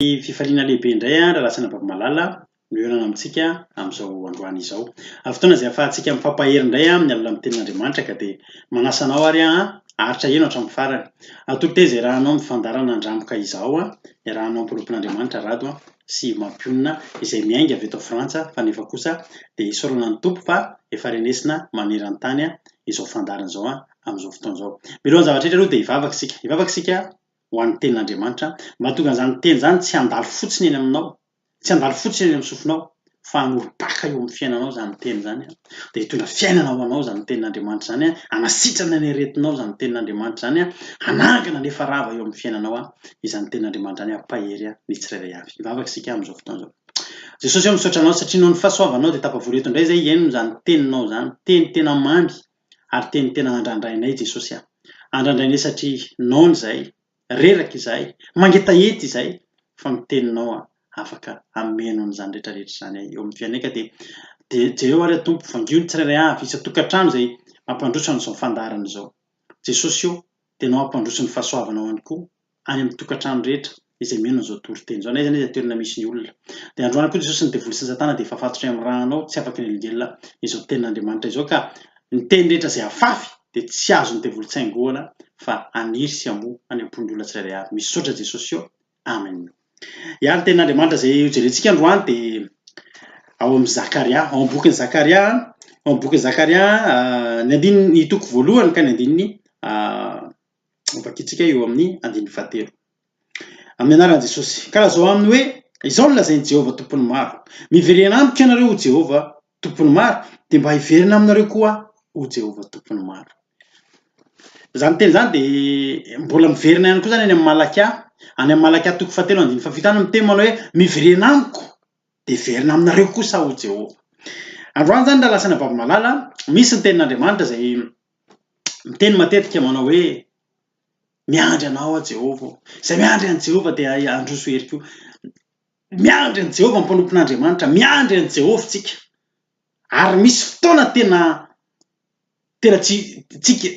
Ny fifaliana lehibe indray an, Ralatsana Babimalala no hihaonana amintsika amin'izao androany izao. Amin'ny fotoana izay ahafahantsika mifampahery indray amin'ny alalan'ny Tenin'Andriamanitra ka dia manasa anao ary aho an, aharitra heno hatramin'ny farany. Atolotra izy iarahanao amin'ny fandaharana handrangoka izaho an, iarahanao ampirobon'Andriamanitra Rado an, sy Mampionona izay miainga avy eto Frantsa fa nefa kosa dia isaorana ny Tompo fa efa renesina maneran-tany an, izao fandaharana izao an, amin'izao fotoana izao. Mialohan'ny zava-drehetra aloha dia hivavaka isika. Hivavaka isika ho an'ny Tenin'Andriamanitra, mahatonga an'izany Teny izany tsy handalo fotsiny eny aminao, tsy handalo fotsiny eny amin'ny sofinao, fa hanorim-paka eo amin'ny fiainanao izany Teny izany, dia hitondra fiainana ho anao izany Tenin'Andriamanitra izany, hanasitrana ny aretinao izany Tenin'Andriamanitra izany, hanangana ny efa rava eo amin'ny fiainanao izany Tenin'Andriamanitra izany, hampahery ny tsirairay avy. Hivavaka isika amin'izao fotoana izao. Jesosy ô, misaotra Anao satria noho ny fahasoavanao dia tafavory eto indray izay hihaino izany Teninao izany, Teny tena mamy, ary teny tena nandrandrainay Jesosy aho. Andrandrainay satria noana izay, reraka izahay, mangetaheta izahay fa ny Teninao afaka hameno an'izany rehetra rehetra izany ahy eo amin'ny fiainanay ka dia dia jereo ary Tompo vangio ny tsirairay avy isan-tokantrano izay mampandroso an'izao fandaharana izao. Jesosy ô, dia Ianao hampandroso ny fahasoavanao ihany koa. any amin'ny tokantrano rehetra izay mino an'izao toriteny izao, na aiza na aiza toerana misy ny olona. Dia androany koa Jesosy ny devoly sy ny satana dia efa fatotra eny amin'ny rahanao, tsy afaka hinelingelina izao tenin'Andriamanitra izao, ka ny teny rehetra izay afafy dia tsy azon'ny devoly tsaingoana fa haniry sy hamoa any am-pon'ny olona tsirairay avy. Misaotra Jesosy ô! Amen. Ya, ny tenin'Andriamanitra izay hojerentsika androany dia ao amin'ny Zakaria, ao amin'ny bokin'i Zakaria, ao amin'ny bokin'i Zakaria, ny andininy, ny toko voalohany ka ny andininy Ho vakintsika eo amin'ny andininy fahatelo. Amin'ny anaran'i Jesosy. Ka lazao aminy hoe, Izao no lazain'i Jehovah Tompon'ny maro, Miverena amiko ianareo, hoy Jehovah Tompon'ny maro, dia mba hiverina aminareo koa aho, hoy Jehovah Tompon'ny maro. Izany teny izany dia mbola miverina ihany koa izany any amin'ny Malakia, any amin'ny Malakia toko fahatelo andininy fahafito any miteny manao hoe, Miverena amiko, dia hiverina aminareo kosa aho, hoy Jehovah. Androany izany raha lasanà Baby Malala, misy ny tenin'Andriamanitra izay miteny matetika manao hoe, Miandry anao aho Jehovah ô. Izay miandry an'i Jehovah dia handroso hery koa. Miandry an'i Jehovah ny mpanompon'Andriamanitra, miandry an'i Jehovah isika. Ary misy fotoana tena tena tsy tsika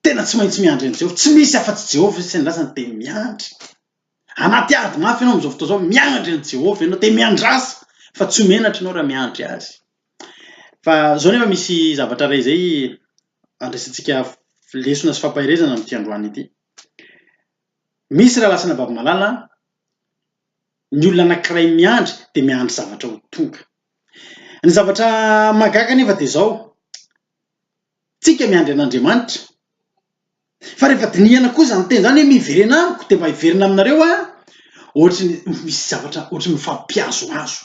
tena tsy maintsy miandry an'i Jehovah. Tsy misy afa-tsy Jehovah isan'ny lasany dia miandry. Anaty ady mafy ianao amin'izao fotoana izao, miandry an'i Jehovah ianao, dia miandrasa fa tsy ho menatra ianao raha miandry azy. Fa izao anefa misy zavatra iray izay andraisantsika lesona sy fampaherezana amin'ity androany ity. Misy raha lasana babimalala, ny olona anankiray miandry dia miandry zavatra ho tonga. Ny zavatra mahagaga anefa dia izao, tsika miandry an'Andriamanitra, Fa rehefa dinihana koa izany teny izany hoe miverena amiko dia mba hiverina aminareo aho, ohatry ny misy zavatra ohatry ny mifampihazohazo.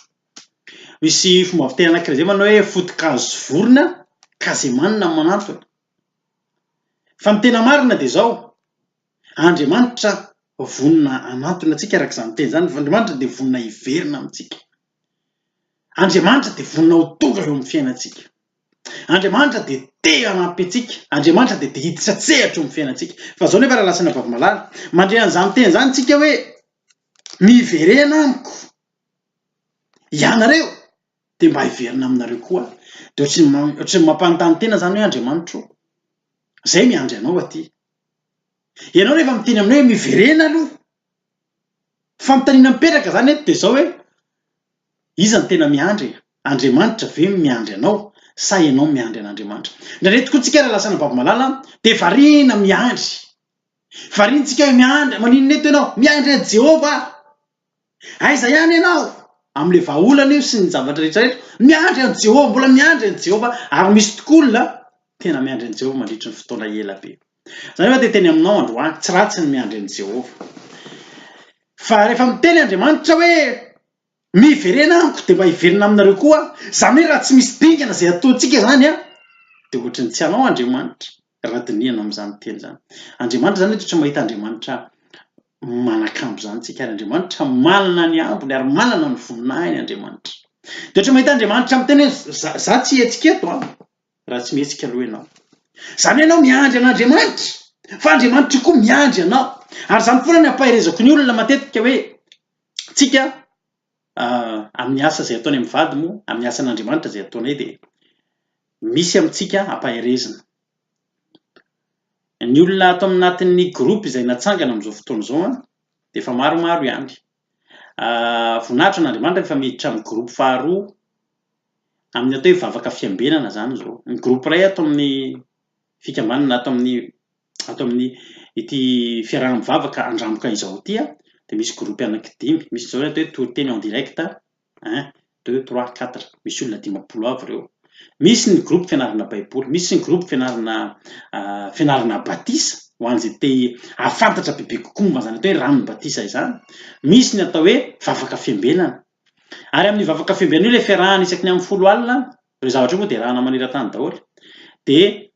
Misy fomba fiteny anankiray izay manao hoe foto-kazo sy vorona, kazemanina no manantona. Fa ny tena marina dia izao, Andriamanitra vonona hanantona antsika araka izany teny izany, Andriamanitra dia vonona hiverina amintsika. Andriamanitra dia vonona ho tonga eo amin'ny fiainantsika. Andriamanitra dia te hanampy antsika. Andriamanitra dia te hiditra an-tsehatra eo amin'ny fiainantsika. Fa izao nefa Ralasina Vavimalala, mandre an'izany teny izany isika hoe, miverena amiko ianareo dia mba hiverina aminareo koa aho. Dia ohatran'ny ohatran'ny mampanontany tena izany hoe Andriamanitra ô, izahay miandry anao aty. Ianao rehefa miteny aminay hoe miverena aloha, Fanontaniana mipetraka izany eto dia izao hoe, iza no tena miandry e? Andriamanitra ve no miandry anao sa ianao no miandry an'Andriamanitra? Indraindray tokoa tsika raha lasa any Ambabimalala dia variana miandry. Variantsika hoe miandry, maninona eto ianao? Miandry an'i Jehovah aho. Aiza ihany ianao? Amin'ilay vahaolana io sy ny zavatra rehetra rehetra. Miandry an'i Jehovah, mbola miandry an'i Jehovah. Ary misy tokoa olona tena miandry an'i Jehovah mandritry ny fotoana ela be. Izaho anefa dia hiteny aminao androany, tsy ratsy ny miandry an'i Jehovah. Fa rehefa miteny Andriamanitra hoe, Miverena amiko, dia mba hiverina aminareo koa aho. Izany hoe raha tsy misy dingana izay ataontsika izany, dia hoatry ny tsy anao Andriamanitra, raha dinihana amin'izany teny izany. Andriamanitra izany eto tsy mahita Andriamanitra manakambo izany isika, ary Andriamanitra manana ny ambiny ary manana ny voninahiny Andriamanitra. Dia hoatry ny mahita Andriamanitra miteny hoe, Izaho tsy hihetsika eto. raha tsy mihetsika aloha ianao. Izany hoe ianao miandry an'Andriamanitra, fa Andriamanitra io koa miandry anao. Ary izany foana ny ampaherezako ny olona matetika hoe, tsika amin'ny asa izay ataony amin'ny vady moa, amin'ny asan'Andriamanitra izay ataonay dia misy amintsika ampaherezina. Ny olona ato anatin'ny groupe izay natsangana amin'izao fotoana izao dia efa maromaro ihany. Voninahitra an'Andriamanitra rehefa miditra amin'ny groupe faharoa amin'ny atao hoe vavaka fiambenana izany izao. Ny groupe iray ato amin'ny fikambanana na ato amin'ny ato amin'ny ity fiaraha-mivavaka handramboka izao ity dia misy groupe anankidimy. Misy izao ny atao hoe toriteny en direct, un, deux, trois, quatre, misy olona dimampolo avy ireo. Misy ny groupe fianarana baiboly, misy ny groupe fianarana fianarana batisa ho an'izay te hahafantatra bebe kokoa momba izany atao hoe ranon'ny batisa izany. Misy ny atao hoe vavaka fiambenana. Ary amin'ny vavaka fiambenana io ilay fiarahana isaky ny amin'ny folo alina, ireo zavatra io moa dia rahana maneran-tany daholo. Dia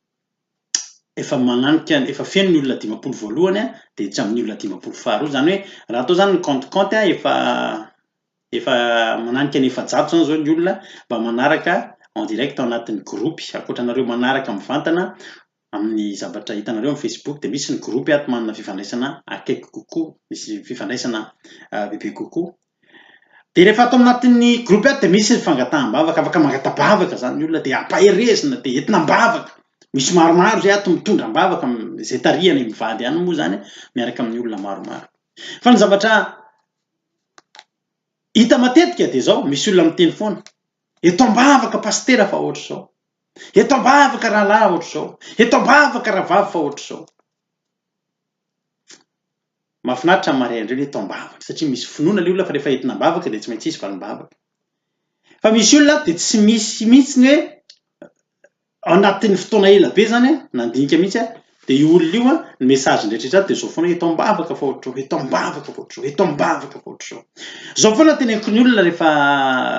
efa mananika efa feno ny olona dimampolo voalohany dia tsy amin'ny olona dimampolo faharoa izany hoe raha atao izany ny compte compte efa Efa mananika ny efajato izany izao ny olona mba manaraka en direct ao anatin'ny gropy. Ankoatra anareo manaraka mivantana amin'ny zavatra hitanareo amin'ny Facebook dia misy ny gropy ato manana fifandraisana akaiky kokoa, misy fifandraisana bebe kokoa. Dia rehefa ato anatin'ny gropy ato dia misy ny fangataham-bavaka, afaka mangata-bavaka izany ny olona dia ampaherezina dia entina am-bavaka. Misy maromaro izay ato mitondra am-bavaka, izay tarihana i mivady ihany moa izany miaraka amin'ny olona maromaro. Fa ny zavatra Hita matetika dia izao, misy olona miteny foana, eto ambavaka pasitera fa ohatr'izao, eto ambavaka rahalahy ohatr'izao, eto ambavaka rahavavy fa ohatr'izao. Mahafinaritra ny mariain'ireo ny eto ambavaka, satria misy finoana ilay olona fa rehefa entina am-bavaka dia tsy maintsy hisy valim-bavaka. Fa misy olona dia tsy misy mihitsy ny hoe Ao anatin'ny fotoana ela be izany, nandinika mihitsy dia io olona io ny message-ny rehetraretra dia izao foana hoe eto am-bavaka fa ohatr'izao, eto am-bavaka fa ohatr'izao, eto am-bavaka fa ohatr'izao. Izao foana teneniko ny olona rehefa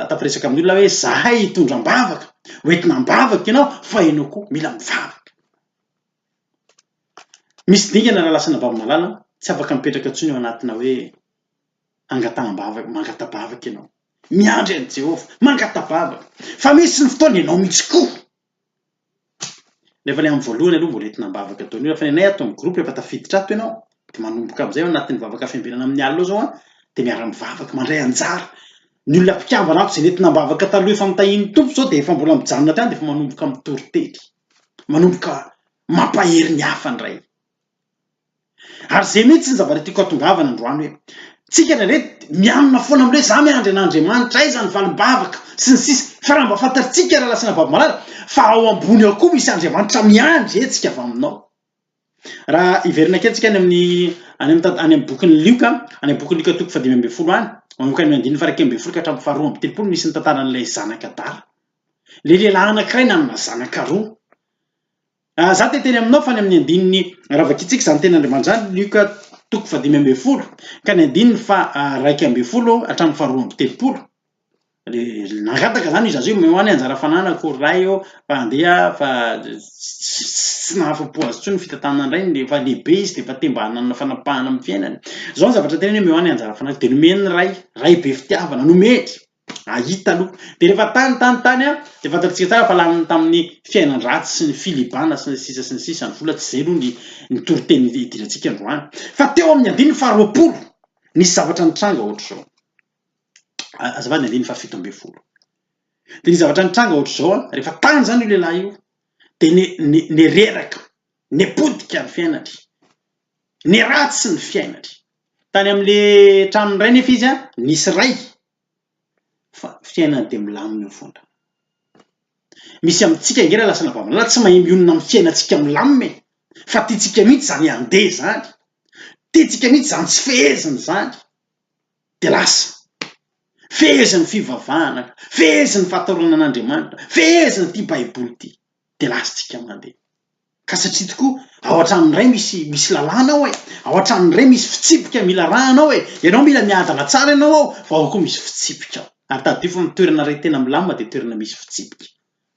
tafaresaka amin'ny olona hoe izahay hitondra am-bavaka, ho entina am-bavaka ianao fa ianao koa mila mivavaka. Misy dingana raha lasa an'Ambavimalala, tsy afaka mipetraka intsony ao anatina hoe hangataham-bavaka, mangata-bavaka ianao. Miandry an'i Jehovah. Mangata-bava fa misy ny fotoana ianao mihitsy koa. Nefa ilay amin'ny voalohany aloha mbola entina am-bavaka daholo. Fa ny anay ato amin'ny groupe efa tafiditra ato ianao dia manomboka amin'izay ao anatin'ny vavaka fiambenana amin'ny alina ao izao an, dia miara-mivavaka, mandray anjara. Ny olona mpikambana ato izay nentina am-bavaka taloha efa mitahian'ny Tompo izao dia efa mbola mijanona hatrany dia efa manomboka mitory teny. Manomboka mampahery ny hafa indray. Ary izay mihitsy no zavatra tiako hatongavana androany hoe tsika indraindray mianona foana amin'ny hoe za miandry an'Andriamanitra, aiza ny valim-bavaka sy ny sisa fa raha mba fantatritsika raha lasa nababo malala fa ao ambony ao koa misy Andriamanitra miandry hetsika avy aminao. Raha hiverina kely tsika any amin'ny any amin'ny any amin'ny bokin'ny Lioka, any amin'ny bokin'ny Lioka toko fahadimy ambin'ny folo any, manomboka any amin'ny andininy faraikely ambin'ny folo ka hatramin'ny faharoa amby telopolo misy ny tantaran'ilay zanaka adala. Ilay lehilahy anankiray nanana zanaka roa. Raha za te teny aminao fa ny amin'ny andininy ravakitsika zany teny Andriamanjany Luc toko faha dimy ambin'ny folo ka ny andininy faha raika ambin'ny folo hatramin'ny faha roa amby telopolo le nangataka zany io zaza io mimoha ny anjara fananako ray ô fa andeha fa tsy nahafa-po azy intsony ny fitantanana ny rainy efa lehibe izy de efa te mba hanana fanapahana amin'ny fiainany zao ny zavatra teneniny hoe mimoha ny anjara fananako de nomen'ny ray ray be fitiavana nomeny hahita aloha. Dia rehefa tany, tany, tany, dia fantatsika tsara fa lany tamin'ny fiainan-dratsy sy ny filibana sy ny sisa sy ny sisa ny vola, tsy izay aloha ny ny toriteny hidirantsika androany. Fa teo amin'ny andininy faharoapolo, nisy zavatra nitranga ohatr'izao, azafady ny andininy fahafito ambin'ny folo, dia nisy zavatra nitranga ohatr'izao an, rehefa tany izany io lehilahy io dia ni- ni- nireraka, nipotika ny fiainany, niratsy ny fiainany, Tany amin'le tranony iray nefa izy nisy ray fa fiainany dia milamina eo fona. Misy amintsika ange raha lasa anabavy malala tsy mahay mionona amin'ny fiainantsika milamina e! Fa tiantsika mihitsy izany handeha izany, tiantsika mihitsy izany tsy fehezina izany, dia lasa fehezin'ny fivavahana, fehezin'ny fahatorana an'Andriamanitra, fehezin'ity baiboly ity. dia lasantsika mandeha. Ka satria tokoa ao an-tranon'ny Ray misy misy lalàna ao e, ao an-tranon'ny Ray misy fitsipika mila arahana ao e, ianao mila miadana tsara ianao ao fa ao koa misy fitsipika ao. Ary tadidio fa ny toerana Ray tena milamina dia toerana misy fitsipika.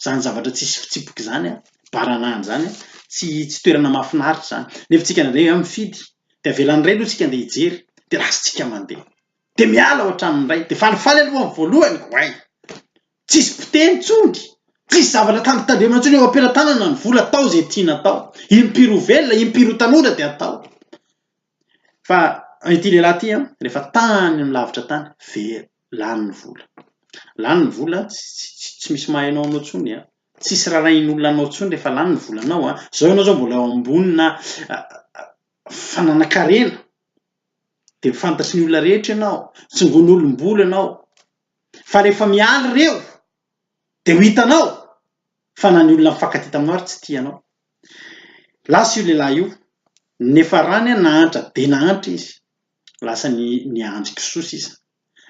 Izany zavatra tsisy fitsipika izany an, baranahana izany an, tsy tsy toerana mahafinaritra izany. Nefa tsika indraindray an mifidy, dia avelan'ny Ray aloha tsika andeha hijery, dia lasantsika mandeha. Dia miala ao an-tranon'ny Ray, dia falifaly aloha ny voalohany, oay! Tsisy mpiteny intsony, tsisy zavatra tandritandremana intsony eo am-pelatanana ny vola atao izay tiana atao. Impiry ho velona, impiry ho tanora dia atao. Fa ity lehilahy ity an, rehefa tany amin'ny lavitra tany, very, lany ny vola. Lany ny vola, tsy misy mahay anao anao intsony an, tsisy rarahin'olona anao intsony rehefa lany ny volanao an, izao ianao izao mbola eo ambonina fananan-karena, dia fantatry ny olona rehetra ianao, tsongon'olom-bolo ianao, fa rehefa mialy reo de ho hitanao fa na ny olona mifankatia taminao ary tsy tia anao. Lasa io lehilahy io nefa ra ny nahantra be nahantra izy lasa ny niandry kisoa sisa.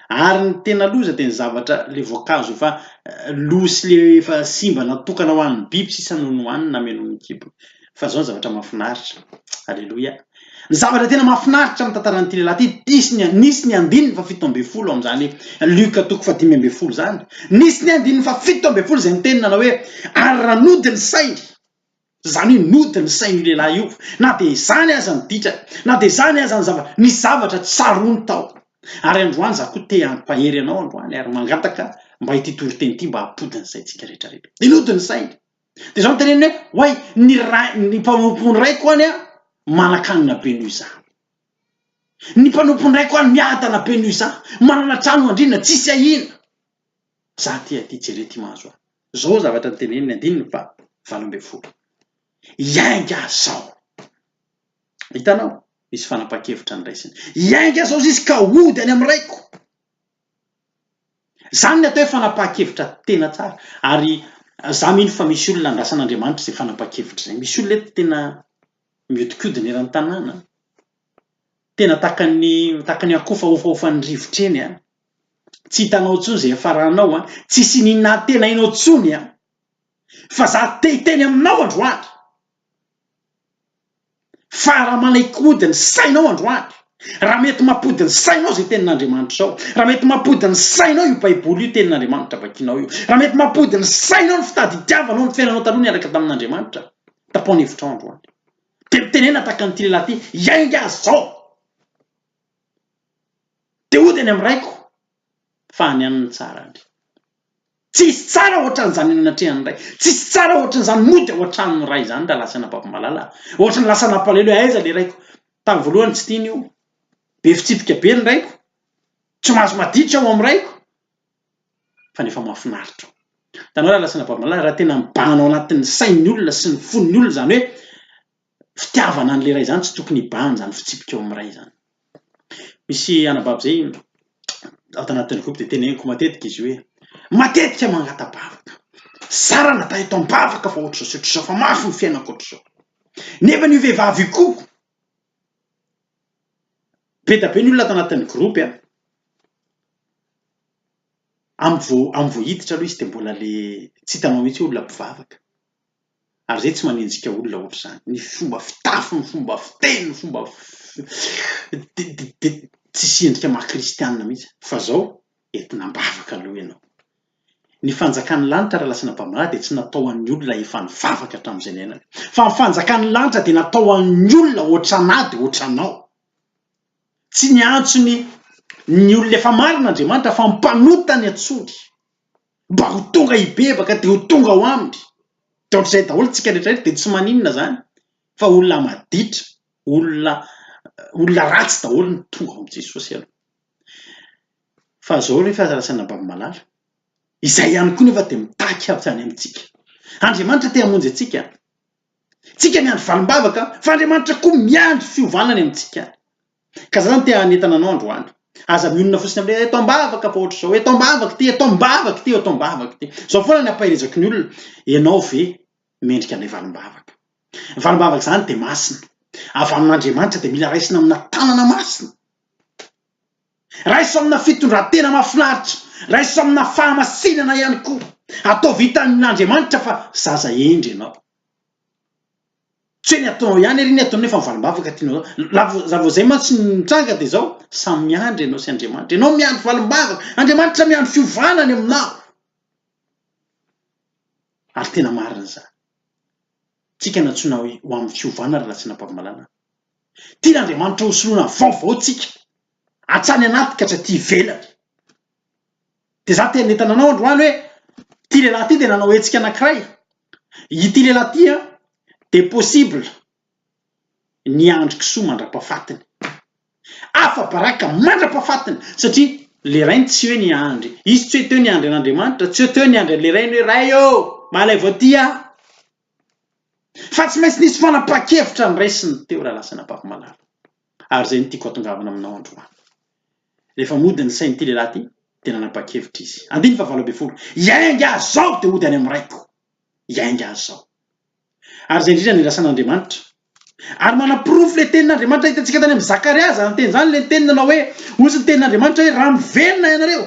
Ary ny tena loza de ny zavatra le voankazo efa lo sy le efa simba natokana ho an'ny biby sisa no nohaniny nameno ny kibony. Fa zao ny zavatra mahafinaritra. Aleloia. Ny zavatra tena mahafinaritra amin'ny tantaran'ity lehilahy ity, nisy ny nisy ny andininy fahafito ambin'ny folo amin'izany Luc toko fahadimy ambin'ny folo izany. Nisy ny andininy fahafito ambin'ny folo izay niteny nanao hoe ary raha nody ny sainy Izany hoe nody ny sain'io lehilahy io, na dia izany aza ny ditrany, na dia izany aza ny zavatra, nisy zavatra tsaroany tao. Ary androany za koa te hampahery anao androany ary mangataka mba ity toriteny ity mba hampody ny saintsika rehetra rehetra. Dia nody ny sainy. Dia izao no teneniny hoe, Oay, ny ray, ny mpanompon'ny raiko any manan-kanina be noho izaho. Ny mpanompon'ny raiko any miadana be noho izaho, manana trano andriana, tsisy ahiana. Za ty aty, jere ity mahazo ahy. Zao zavatra niteneniny, andininy faha valo ambin'ny folo. Iainga zao. Hitanao? Misy fanapahan-kevitra niraisiny. Iainga zao ziska hody any amin'ny raiko. Izany ny atao hoe fanapahan-kevitra tena tsara. Ary izaho mino fa misy olona andrasan'Andriamanitra izay fanapahan-kevitra izay. Misy olona eto tena mihodinkodina eran'ny tanàna, tena tahaka ny tahaka ny akoho efa hofahofan'ny rivotra eny, tsy hitanao intsony izay hiafaranao, tsy hisian'ny nahatenainao intsony, fa izaho te hiteny aminao androany. Fa raha manaikody ny sainao androany, raha mety mampody ny sainao izay Tenin'Andriamanitra izao, raha mety mampody ny sainao io Baiboly io, Tenin'Andriamanitra vakinao io, raha mety mampody ny sainao ny fitady itiavanao ny fiainanao taloha niaraka tamin'Andriamanitra, tapao ny hevitrao androany. Dia mitenena tahaka an'ity lehilahy ity, Hiainga aho izao, dia hody any amin'ny Raiko. fa any aminy tsara any. Tsisy tsara ohatran'izany eny anatrehan'ny Ray. Tsisy tsara ohatran'izany mody ao an-tranon'ny Ray izany raha lasa an'Ababomalala aho. Ohatran'ny lasa an'Ampalahelo hoe aiza ilay Raiko. Tamin'ny voalohany tsy tiany io. Be fitsipika be ny Raiko. Tsy mahazo maditra aho amin'ny Raiko. Fa nefa mahafinaritra ao. Hitanao raha lasa an'Ababomalala, raha tena mibahana ao anatin'ny sain'ny olona sy ny fon'ny olona izany hoe, fitiavana an'ilay ray izany tsy tokony hibahan izany fitsipika ao amin'ny ray izany. Misy anabavy izay ato anatin'ny groupe dia teneniko matetika izy hoe matetika mangata-bavaka, zara na tahita am-bavaka fa ohatr'izao sy ohatr'izao fa mafy ny fiainako ohatr'izao. Nefa io vehivavy io koa, be dia be ny olona ato anatin'ny groupe an, amin'ny vao hiditra aloha izy dia mbola le tsy hitanao mihitsy hoe olona mpivavaka. ary zay tsy manenjika olona ohatr'izany, ny fomba fitafy, ny fomba fiteny, ny fomba de tsisy endrika maha kristianina mihitsy fa zao entina am-bavaka aloha ianao, ny fanjakan'ny lanitra raha lasa anabamalahy dia tsy natao ho an'ny olona efa nivavaka hatramin'izay niainany fa ny fanjakan'ny lanitra dia natao ho an'ny olona ohatranà dia ohatranao, tsy niantso ny ny olona efa marina Andriamanitra fa ny mpanota ny antsoiny. Mba ho tonga hibebaka dia ho tonga ao aminy. Dia ohatr'izay daholo tsika rehetra rehetra dia tsy maninona izany fa olona maditra, olona olona ratsy daholo no tonga ao amin'i Jesosy aloha. Fa izao re fa rasaina babimalala, izay ihany koa nefa dia mitaky avy any amintsika. Andriamanitra te hamonjy antsika. Tsika miandry valim-bavaka fa Andriamanitra koa miandry fiovana any amintsika any. Ka zany te hanentana anao androany. Aza mionona fotsiny amin'ny hoe eto am-bavaka fa ohatr'izao, eto am-bavaka ity, eto am-bavaka ity, eto am-bavaka ity. Zao foana ny ampaherezaky ny olona, ianao ve mendrika an'ilay valim-bavaka. Ny valim-bavaka izany dia masina. Avy amin'Andriamanitra dia mila raisina amina tanana masina. Raiso amina fitondran-tena mahafinaritra. Raiso amina fahamasinana ihany koa. Ataovy hitan'Andriamanitra fa zaza hendry ianao. Tsy hoe ny ataonao ihany ery ny ataonao efa valim-bavaka tianao zao. Raha vao raha vao zay mantsy ny mitranga dia zao, samy miandry ianao sy Andriamanitra. Ianao miandry valim-bavaka, Andriamanitra miandry fiovana any aminao. Ary tena marina izany. Tsika no antsoina hoe ho amin'ny fiovana ry Ratsinapavimalana. Tian' Andriamanitra hosoloana vaovao tsika, hatrany anaty ka hatraty ivelany. Dia izaho te hanentana anao androany hoe, ity lehilahy ity dia nanao hetsika anankiray, ity lehilahy ity an, dia possible ny Andry Kisoa mandra-pahafatiny. Afa-baraka mandra-pahafatiny, satria le rainy tsy hoe ny Andry, izy tsy hoe teo ny Andry an'Andriamanitra, tsy hoe teo ny Andry an'le rainy hoe Ray ô! Mahalaivo aty aho! Fa tsy maintsy nisy fanapahan-kevitra noraisiny teo raha lasa an'Ampavimalala. ary izay no tiako hatongavana aminao androany. Rehefa mody ny sain'ity lehilahy ity dia nanapa-kevitra izy. Andininy fahavalo ambin'ny folo, Hiainga aho izao dia hody any amin'ny raiko. Hiainga aho izao. Ary izay indrindra no irasan'Andriamanitra. Ary manaporofo ilay tenin'Andriamanitra hitantsika tany amin'i Zakaria izany teny izany, ilay teny nanao hoe, Hoy ny tenin'Andriamanitra hoe, Raha miverina ianareo,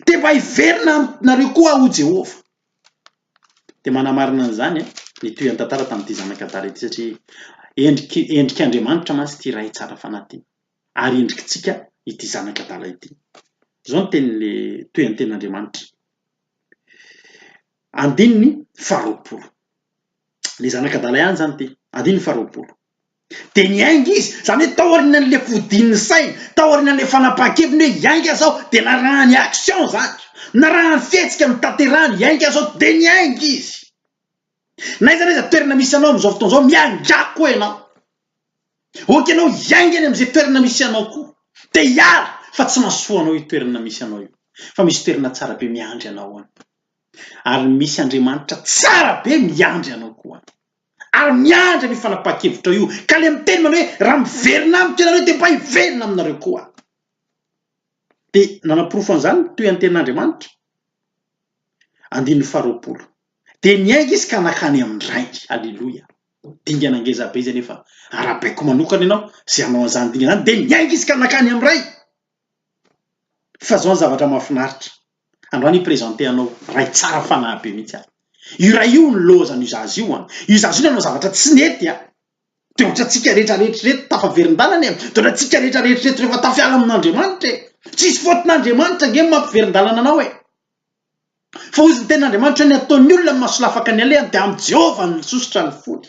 dia mba hiverina aminareo koa aho, hoy Jehovah. Dia manamarina an'izany ny tohian-tantara tamin'ity zanaka adala ity satria endriky endrik'Andriamanitra mantsy ity Ray tsara fanahy ity ary endrikintsika ity zanaka adala ity. Izao ny tenin'ilay tohian-tenin'Andriamanitra. Andininy faharoapolo. Ilay zanaka adala ihany izany ity. Andininy faharoapolo. Dia niainga izy. Izany hoe tao aorianan'ilay fodian'ny saina, tao aorianan'ilay fanapahan-keviny hoe hiainga izao, dia narahany action izany. Narahany fihetsika notanterahany, hiainga izao, dia niainga izy. N'aiza n'aiza toerana misy anao amin'izao fotoana izao, miaingà koa ianao. Ok ianao hiainga any amin'izay toerana misy anao koa. Te hiala, fa tsy mahasoa anao io toerana misy anao io. Fa misy toerana tsara be miandry anao any. Ary misy Andriamanitra tsara be miandry anao koa any. ary miandry an'io fanapahan-kevitrao io, ka ilay miteny manao hoe, raha miverina amiko ianareo dia mba hiverina aminareo koa aho. Dia nanaporofo an'izany ny toe-antenin'Andriamanitra. Andininy faharoapolo. Dia niainga izy ka nankany amin'ny Rainy. Aleloia. Dingana ngeza be izay nefa arahabaiko manokana ianao izay hanao an'izany dingana izany, dia niainga izy ka nankany amin'ny Rainy. Fa zao ny zavatra mahafinaritra, androany hi-presenter anao ray tsara fanahy be mihitsy aho, io ray io nilaozan' io zaza io an, io zaza io nanao zavatra tsy nety an, dia ohatrantsika rehetra rehetra ireto tafaverin-dalana e, dia ohatrantsika rehetra rehetra ireto rehefa tafiala amin' Andriamanitra e, tsisy faute-n' Andriamanitra ange ny mampiverin-dalana anao e. Fa hoy ny Tenin'Andriamanitra, Ny ataon'ny olona amin'ny masolafaka ny alehany, dia amin'i Jehovah no nisosotra ny fony.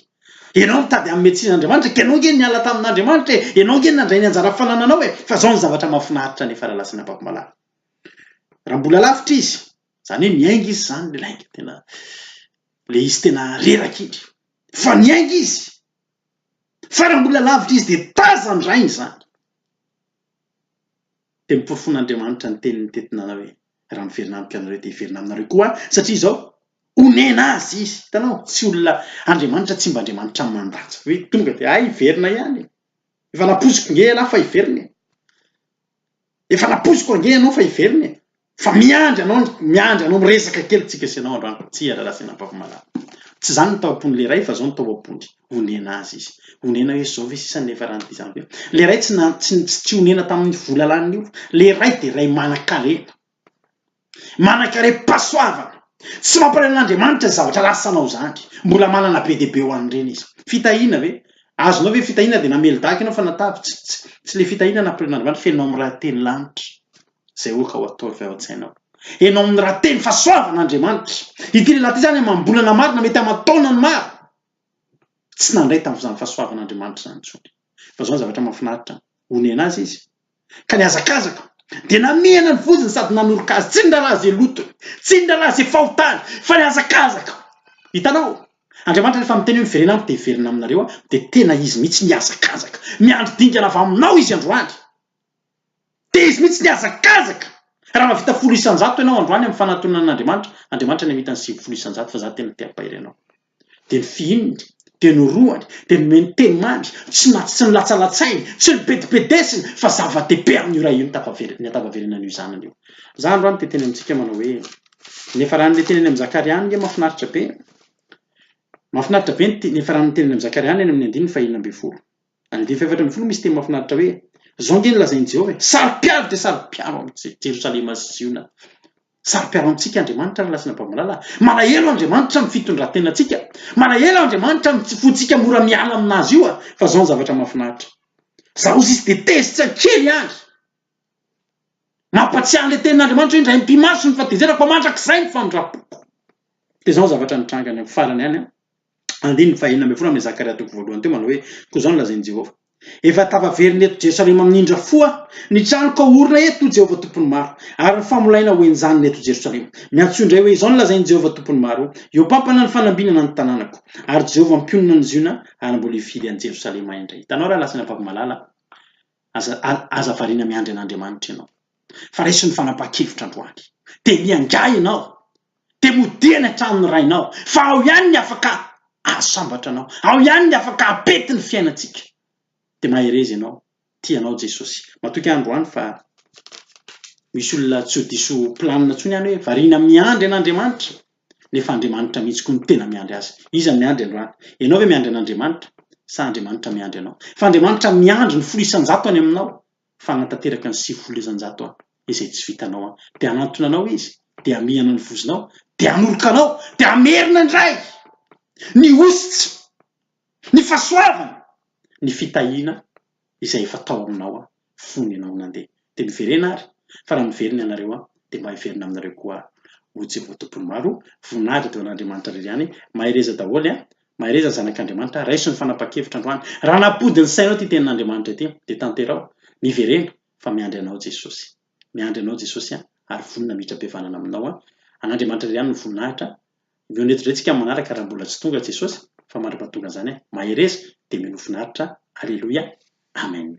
Ianao mitady hanome tsiny an'Andriamanitra, ka ianao ange niala tamin'Andriamanitra e! Ianao ange nandray ny anjara fanananao e! Fa izao no zavatra mahafinaritra nefa lalasan'ny ampakomalala. Raha mbola lavitra izy, izany hoe niainga izy izany, ilay lainga tena, ilay izy tena reraka iny. Fa niainga izy. Fa raha mbola lavitra izy, dia tazan-drainy izany. Dia noporofoin'Andriamanitra ny teniny teto nanao hoe, Raha miverina amiko ianareo dia hiverina aminareo koa aho, satria izao, onena azy izy. Hitanao? Tsy olona, Andriamanitra tsy mba Andriamanitra mandatsa, hoe tonga dia, hay hiverina ihany e! Efa nampoiziko nge ialahy fa hiverina e! Efa nampoiziko ange ianao fa hiverina e! Fa miandry anao ny, miandry anao miresaka kely tsika sy ianao androany, tsia rahalahy sy anabavy malala. Tsy izany ny tao am-pon'ilay ray fa izao ny tao am-pony, onena azy izy. Onena hoe izao ve sisa no efa rany vizana be? Ilay ray tsy, tsy, tsy nionena tamin'ny vola lany ny olona. Ilay ray dia ray manan-karena. Manan-karem-pahasoavana. Tsy mampalahelo an'Andriamanitra izany zavatra ratsy sanao izany. Mbola manana be dia be ho an'ireny izy. Fitahiana ve? Azonao ve fitahiana dia namely daga ianao fa natavy? Tsy, tsy, tsy ilay fitahiana nampirim'Andriamanitra, fenoinao amin'ny raha teny lanitra. Izay ho'a ka ho ataovy avy ao an-tsainao. Enao amin'ny raha teny fa soavin' Andriamanitra. Ity lehilahy ity izany amam-bolana maro na mety aman-taonany maro, tsy nandray tamin'izany fahasoavan' Andriamanitra izany intsony. Fa izao ny zavatra mahafinaritra, onena azy izy, ka nihazakazaka, dia namehana ny vozony sady nanoroka azy, tsy ny raharaha izay lotony, tsy ny raharaha izay fahotany, fa nihazakazaka. Hitanao? Andriamanitra rehefa miteny hoe miverena amiko dia hiverina aminareo aho, dia tena izy mihitsy mihazakazaka. Miandry dingana avy aminao izy androany. Dia izy mihitsy ny hazakazaka! Raha mahavita folo isan-jato ianao androany amin'ny fanatonana an'Andriamanitra, Andriamanitra ny hamitany sivifolo isan-jato fa za tena te hampahery anao. Dia ny fihininy, dia ny orohany, dia ny meny teny mamy, tsy na tsy nolatsalatsainy, tsy nobedibedesiny, fa zava-dehibe amin'io ray io ny tafaverina, ny hatafaverina an'io zanany io. Za androany te hiteny amintsika manao hoe, niafarany le teny any amin'ny Zakaria any nge mahafinaritra be e! Mahafinaritra be ny niafarany ny teny any amin'ny Zakaria any amin'ny andininy faheenina ambin'ny folo. Andiany fahefatra ambin'ny folo misy teny mahafinaritra hoe, Izao ange no lazain'i Jehovah e, Saro-piaro dia saro-piaro amin'i Jerosalema sy Ziona. Saro-piaro amintsika Andriamanitra ary lasina babalà. Malahelo Andriamanitra amin'ny fitondran-tenantsika. Malahelo Andriamanitra amin'ny tsy fontsika mora miala aminazy io, fa izao ny zavatra mahafinaritra. Izaho hozy izy dia tezitra kely àry. Mampahatsiahy an'ilay tenin'Andriamanitra hoe, Indray am-pimasony ny fahatezerako, fa mandrakizay ny famindram-poko. Dia izao ny zavatra nitranga any amin'ny farany any. Andininy fahenina ambin'ny folo amin'i Zakaria toko voalohany teo manao hoe, Koa izao no lazain'i Jehovah, Efa tafaverina eto Jerosalema amin'ny indrafo aho, ny tranoko haorina eto, hoy Jehovah Tompon'ny Maro, ary ny famolaina ho enjanina eto Jerosalema. Miantsoa indray hoe, Izao no lazain'i Jehovah Tompon'ny Maro, Eo pampana ny fanambinana ny tanànako, ary Jehovah mpionona ny Ziona, ary mbola hifidy an'i Jerosalema indray. Hitanao raha lasa ny ampavimalala? Aza, aza variana miandry an'Andriamanitra ianao, fa raiso ny fanapahan-kevitra androany. Dia miangaha ianao, Dia modia any an-tranon'ny Rainao, fa ao ihany ny afaka azo sambatra-nao, ao ihany ny afaka hampety ny fiainantsika. Dia mahereza ianao, tia anao Jesosy. Matoky ahy androany fa misy olona tsy ho diso planina intsony any hoe variana miandry an'Andriamanitra, nefa Andriamanitra mihitsy koa no tena miandry azy. Iza no miandry androany? Ianao ve miandry an'Andriamanitra, sa Andriamanitra miandry anao? Fa Andriamanitra miandry ny folo isan-jato any aminao, fa hanatanteraka ny sivifolo isanjato izay tsy vitanao an! dia hanantona anao izy dia hamihana ny vozonao dia hanoroka anao dia hamerina indray ny hositsy ny fahasoavana ny fitahiana izay efa tao aminao an! fony ianao nandeha dia miverena ary fa raha miverina ianareo an! dia mba hiverina aminareo koa aho o Jehovah Tompon'ny Maro voninahitra dia ho an'Andriamanitra irery ihany mahereza daholo an! Mahereza ny Zanak'Andriamanitra, raiso ny fanapahan-kevitra androany. Raha nampody ny sainao ity tenin'Andriamanitra ity, dia tanteraho, miverena, fa miandry anao Jesosy. Miandry anao Jesosy an, ary vonona mihitrabevanana aminao an. An'Andriamanitra irery ihany ny voninahitra. Mionetra indray tsika amin'ny manaraka raha mbola tsy tonga Jesosy, fa mandra pahatonga an'izany an, mahereza, dia mino finaritra. Aleloia. Amen.